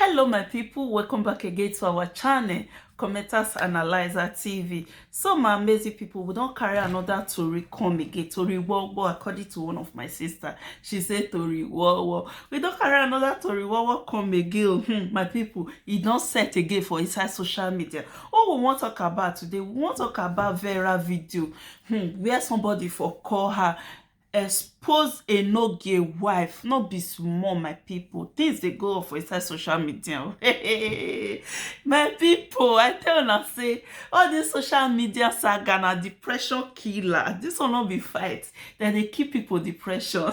hello my people welcome back again to our channel commenters analyzer tv so my amazing people we don't carry another tori come again tori wowo according to one of my sister she say tori wowo we don't carry another tori wowo come again hmm, my people e don't set again for inside social media all we wan talk about today we wan talk about vera video hmm, where somebody for call her expose enogie wife no be small my people things dey go off for inside social media oh. my people i tell una say all this social media saga na depression killer this one no be fight dem dey kill people depression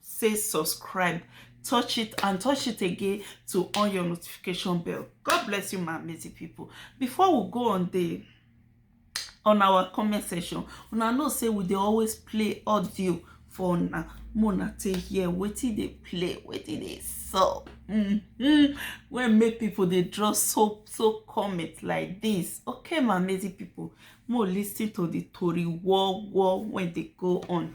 say subscribe touch it and touch it again to on your notification bell god bless you my amazing people before we go on the on our comment section una know say we dey always play audio for una mona take hear wetin dey play wetin dey sup mm -hmm. wey make people dey draw so so comment like this okay my amazing people mo lis ten to the tori war war wey dey go on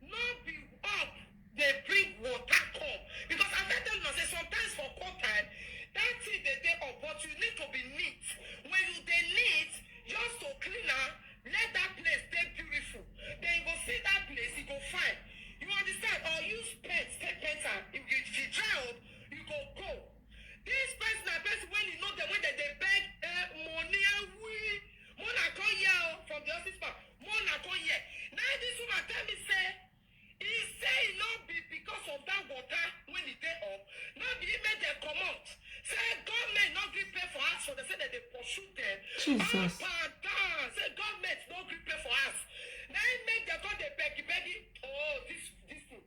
No be up dey bring water come because as I tell una say sometimes for cold time that thing dey dey up but you need to be neat when you dey neat just to clean am let that place dey beautiful then you go see that place e go fine you understand or use paint take paint am if you if e dry up you go go This person na person when you know them when they dey beg eh, money and we Mona come here oh, from the office man. Mona come here. Now this woman tell me say he say e no be because of that water when e dey up. No be him make dem comot. Say government no gree pay for house for them say dem dey pursue them. Jesus. Up and down. Say government no gree pay for house. Na him make dem come dey beg beg. Oh this this thing.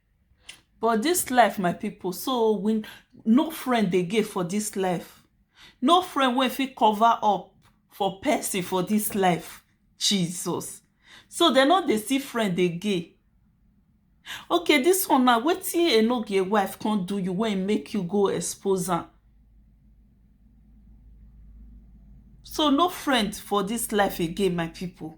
But this life my people so we no friend again for this life no friend wey fit cover up for person for this life Jesus so dem no dey see friend again okay this one now wetin enogie wife come do you wey make you go expose am so no friend for this life again my people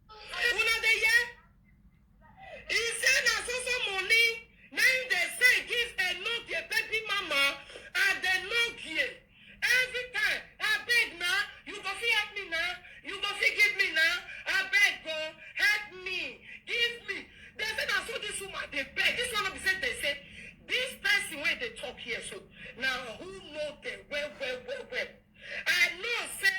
Una dey hear? He say na so so money na him dey send give Enogie baby mama and Enogie every time abeg na you go fit help me na you go fit give me na abeg o help me give me dey say na so this woman dey beg this one no be say dey say this person wey dey talk here so na who know dem well well well well I know say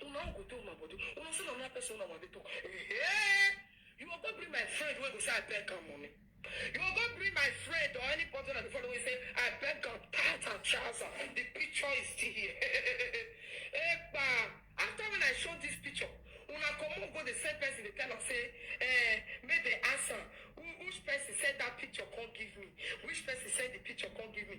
So now you go do my body. Una say na another person una wan dey talk. Hey, you go go bring my friend wey go say I beg am money. You go go bring my friend or anybody that dey follow wey say I beg am tight and trouser. The picture is still here. Epa, after when I show this picture, una comot go the same person dey tell am say, eh, make they ask am who which person send that picture come give me, which person send the picture come give me.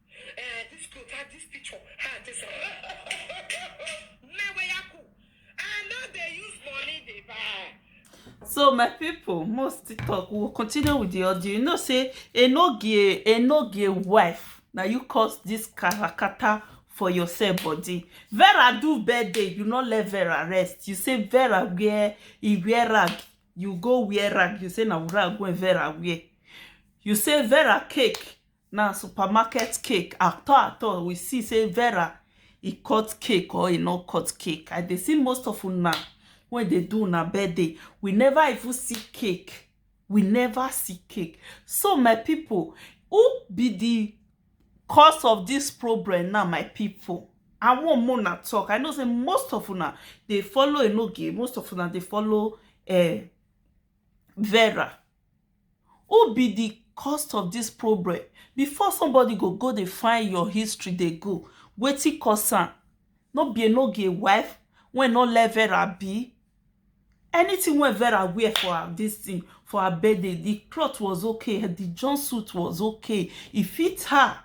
Eh, this clothes, ah, this picture, ah, this. Meweyaku. I know they use money they buy. so my people most tiktok we will continue with the audio you know say enogie enogie wife na you cause this karakata for yourself body vera do birthday you no let vera rest you say vera wear e wear rag you go wear rag you say na rag wey vera wear you say vera cake Na supermarket cake at all at all we see say Vera e cut cake or e no cut cake. I dey see most of una wey dey do una birthday, we never even see cake. We never see cake. So my people, who be the cause of this problem now my people? I wan make una talk. I know say most of una dey follow Enoge, most of una dey follow um Vera. who be di cause of dis problem before somebody go go dey find your history dey go wetin cause am no be enoge wife wey no let Vera be anything wey Vera wear for her dis thing for her birthday di cloth was okay di jump suit was okay e fit her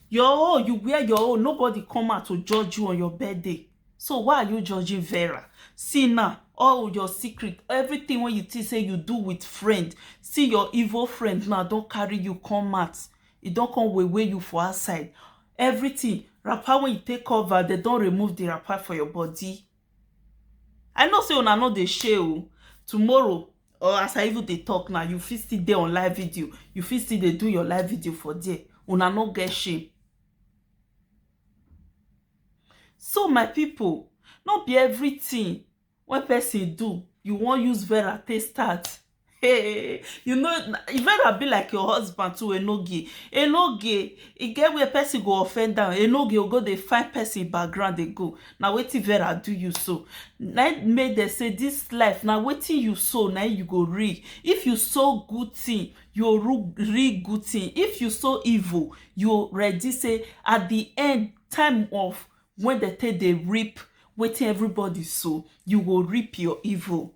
your own you wear your own nobody come out to judge you on your birthday so why are you judging vera see now all your secret everything wey you think say you do with friend see your evil friend now don carry you come out e don come wewe you for outside everything wrapper wey you take cover dem don remove the wrapper for your body I know sey una no dey shey o tomorrow or as I even dey talk now you fit still dey on live video you fit still dey do your live video for there una no get shame so my people no be everything wey person do you wan use vera take start Hey, you know, e better be like your husband too, Enoge. Enoge, e get where person go offend am. Enoge go go dey find person in background dey go. Na wetin Vera do you so? Na im make dem say this life na wetin you sow na im you go reap. If you sow good thing, you go ru- reap good thing. If you sow evil, you ready say at the end time of when dem take dey reap wetin everybody sow, you go reap your evil.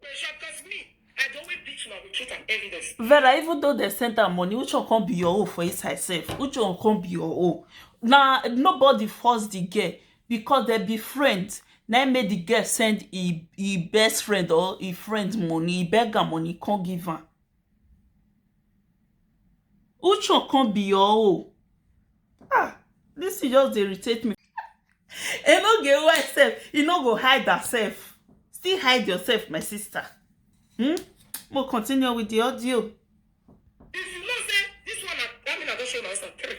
Pressure cause me. I dey always beat una with truth and evidence. vera even though dem send am money which one come be your own for inside sef which one come be your own na nobody force the girl because dem be friend na im make the girl send e e best friend or e friend money e beg am money come give am Which one come be your own? Ah, this thing just dey irritate me. E no get why sef, e no go hide herself. Still hide yourself, my sister. Hmm? We'll continue with the audio. If you know say this one na that mean I don show my son three.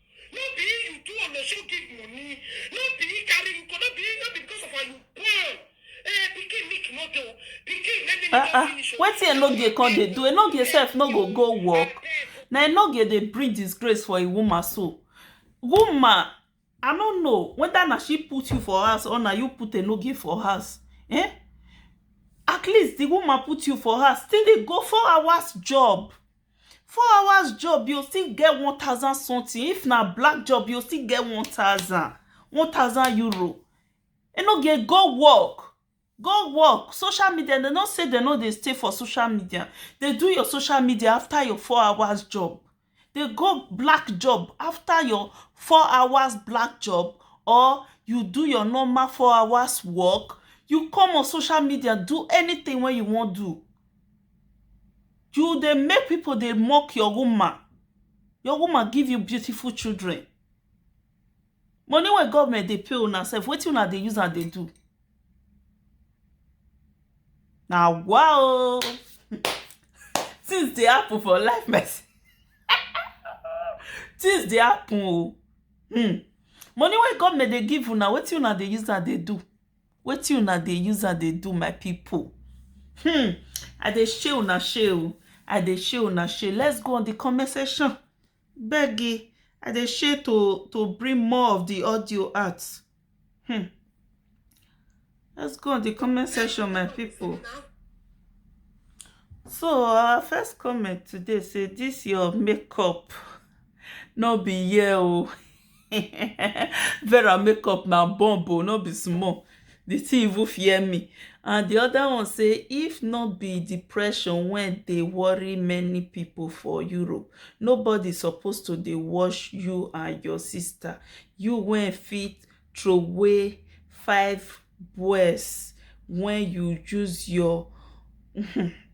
No be him you do olosho give money. No be him carry you go. No be him. No be because of her you born. Eh, pikin make you no dey o. Pikin let me make ah you finish ah o. wetin enogie come dey do enogie sef no go go work na enogie dey bring disgrace for a woman so woman i no know whether na she put you for house or na you put enogie for house eh at least the woman put you for house still dey go four hours job Four hours job yo still get one thousand something if na black job yo still get one thousand one thousand euro e no get go work go work social media dem no say dem no dey stay for social media dey do your social media after your four hours job dey go black job after your four hours black job or you do your normal four hours work you come on social media do anything wey you wan do You dey make people dey mock your woman, your woman give you beautiful children, money wey government dey pay una self wetin una dey use am dey do? Na wa o um things dey happen for life my sister um things dey happen o um money wey government dey give una wetin una dey use am dey do? wetin una dey use am dey do my people hmm i dey share una share o i dey share una share let's go on the comment section begi i dey share to to bring more of the audio out hmm let's go on the comment section my people so our first comment today say this your makeup no be here o. Vera make up na bomb o no be small the thing even fear me and the other one say if no be depression when they worry many people for Europe nobody supposed to dey watch you and your sister you when fit throw away five boys when you use your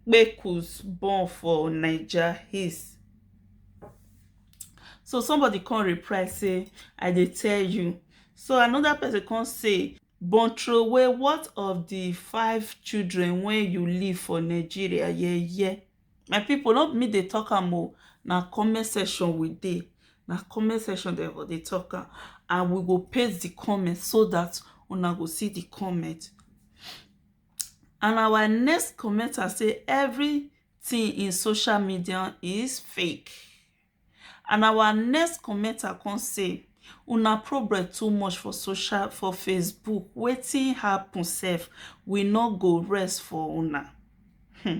kpekus born for Naija his so somebody come reply say i dey tell you so another person come say but throway what of the five children wey you leave for nigeria yeah yeah my people no be me dey talk am o na comment section we dey na comment section dem for dey talk am and we go paste the comment so that una go see the comment and our next commenter say every tin in social media is fake and our next commenter come say una problem too much for social for Facebook wetin happen sef we no go rest for una hmm.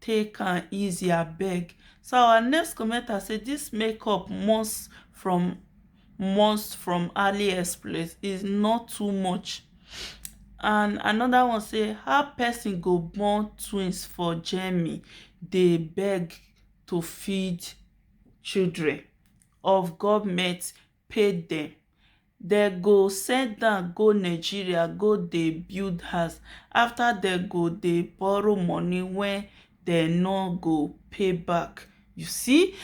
Take am easy abeg. So our next commenter say this makeup must from must from AliExpress is not too much. And another one say how person go born twins for Germany dey beg to feed children of government pay dem dem go send down go Nigeria go dey build house after dem go dey borrow money when dem no go pay back you see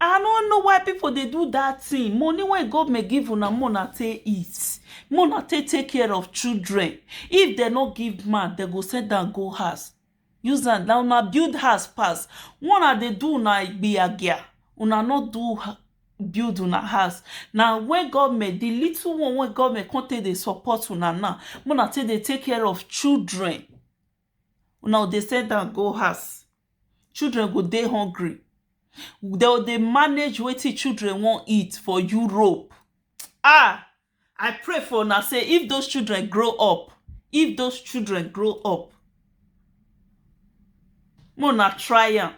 I no know why people dey do that thing money wey government give una make una take eat make una take take care of children if dem no give man dem go send am go house Use hand na una build house pass Why una dey do una igbiagia Una no do build una house Na when government the little one wey government come take dey support una now Make una take dey take care of children Una go dey send am go house Children go dey hungry Dem go dey manage wetin children wan eat for Europe Ah! I pray for una say if those children grow up, if those children grow up, make una try am.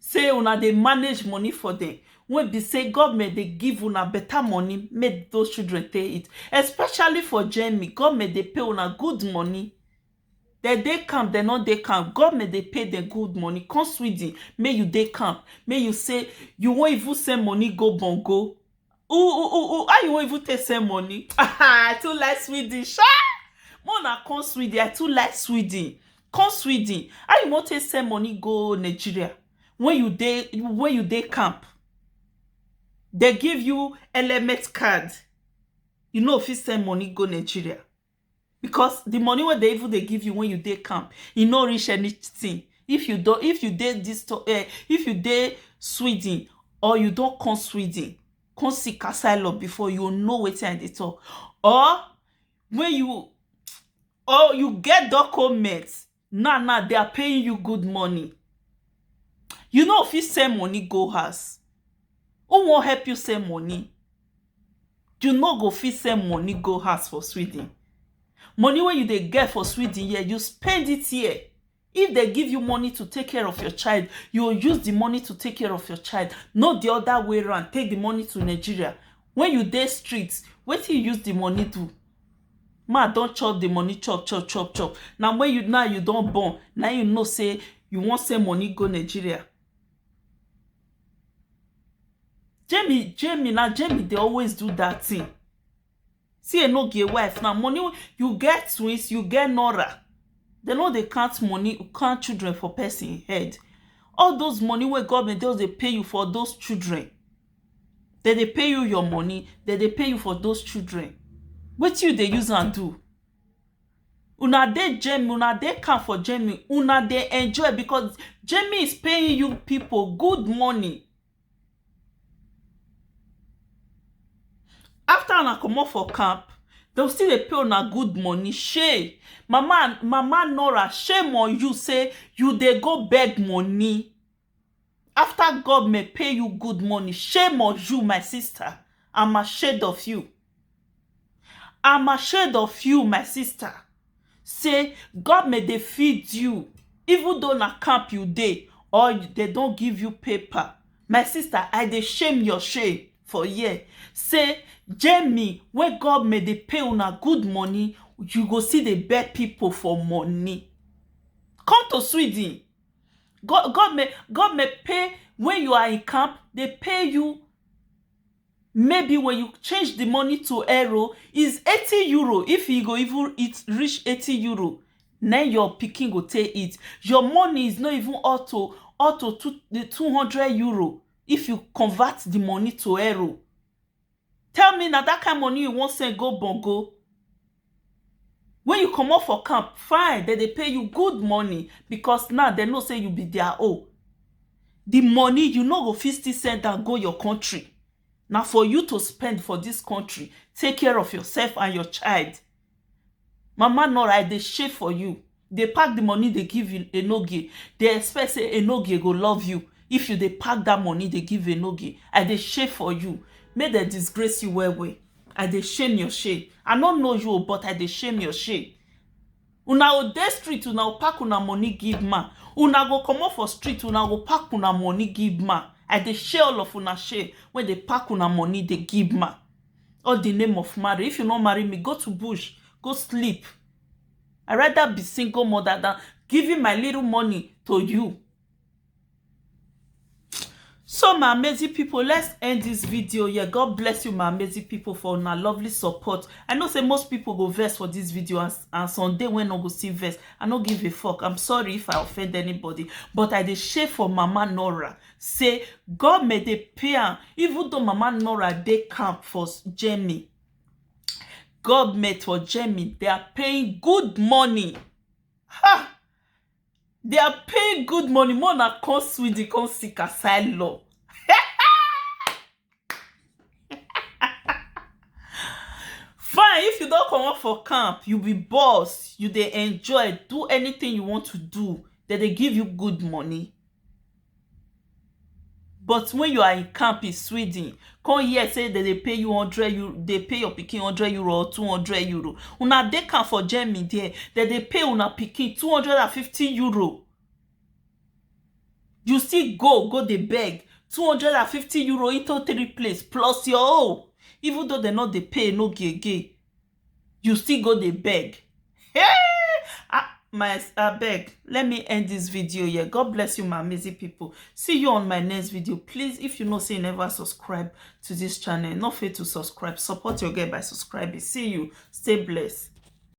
Say una dey manage money for them. Wey be say government dey give una better money make those children take it. Especially for Germany, government dey pay una good money. Dem dey camp, dem no dey camp, government dey pay them good money. Come Sweden, make you dey camp, make you say you wan even send money go Bongo. u u u u how you wan even take send money i too like sweden sha make una come sweden i too like sweden come sweden how you wan take send money go nigeria when you dey when you dey camp dey give you element card you no fit send money go nigeria because the money wey they even dey give you when you dey camp e no reach anything if you don if you dey this to- eh, if you dey sweden or you don come sweden come see kasailo before you go know wetin i dey talk or when you or you get document Now now they are paying you good money. You no fit send money go house. Who wan help you send money? You no go fit send money go house for Sweden. Money wey you dey get for Sweden here, you spend it here. If they give you money to take care of your child, you will use the money to take care of your child, not the other way around, take the money to Nigeria. When you dey street, wetin you use the money do? Man don chop the money chop chop chop chop na when you now you don born na you know say you wan send money go Nigeria Jamie Jamie na Jamie dey always do that thing see Enogie wife now money wey you get twins you get Nora dem no dey count money count children for person head all those money wey government just dey pay you for those children dem dey pay you your money, dem dey pay you for those children wetin you dey use am do? una dey Germany una dey camp for Germany una dey enjoy because Germany is paying you people good money after una comot for camp dem go still dey pay una good money shey mama mama Nora shame on you sey you dey go beg money After government pay you good money shame on you my sister am ashamed of you am ashamed of you my sister say government dey feed you even though na camp you dey or dem don give you paper my sister I dey shame your shame for here say Jamie wey government dey pay una good money you go still dey beg people for money come to Sweden government government pay when you are in camp they pay you maybe when you change the money to euro is eighty euro if you go even eat reach eighty euro na im your pikin go take eat your money is not even up to up to two hundred euro if you convert the money to euro Tell me na that kind money you wan send go bongo? When you comot for camp, fine, dem dey pay you good money because now dem know say you be their own. The money you no go fit still send am go your country, na for you to spend for this country, take care of yourself and your child. Mama Nora I dey shake for you, dey pack the money dey give Enogie, dey expect say Enogie go love you if you dey pack that money dey give Enogie, I dey shake for you, make dem disgrace you well well, I dey shame your shame, I no know you o but I dey shame your shame. Una go dey street una go pack una money give man, una go comot for street una go pack una money give man, I dey shame all of una shame wey dey pack una money dey give man. all the name of marry if you no marry me go to bush go sleep i rather be single mother than giving my little money to you so my amazing people let's end this video here god bless you my amazing people for una lovely support i know say most people go vex for this video and, and someday when no go see vex i no give a fuck i'm sorry if i offend anybody but i dey share for mama nora say goment dey pay am even though mama nora dey camp for germany goment for germany they are paying good money ha they are paying good money more na come sweden come seek asylum fine if you don comot for camp you be boss you dey enjoy do anything you want to do dem dey give you good money but when you are in camp in Sweden come hear say dem dey pay you hundred euro dey pay your pikin hundred euro or two hundred euro una dey camp for Germany there dem dey pay una pikin two hundred and fifty euro you still go go dey beg €250 into three place plus your own even though dem no dey pay no gi again you still go dey beg um my abeg let me end this video here God bless you my amazing people see you on my next video please if you know say you never subscribe to this channel no fail to subscribe support your girl by subscribing see you stay blessed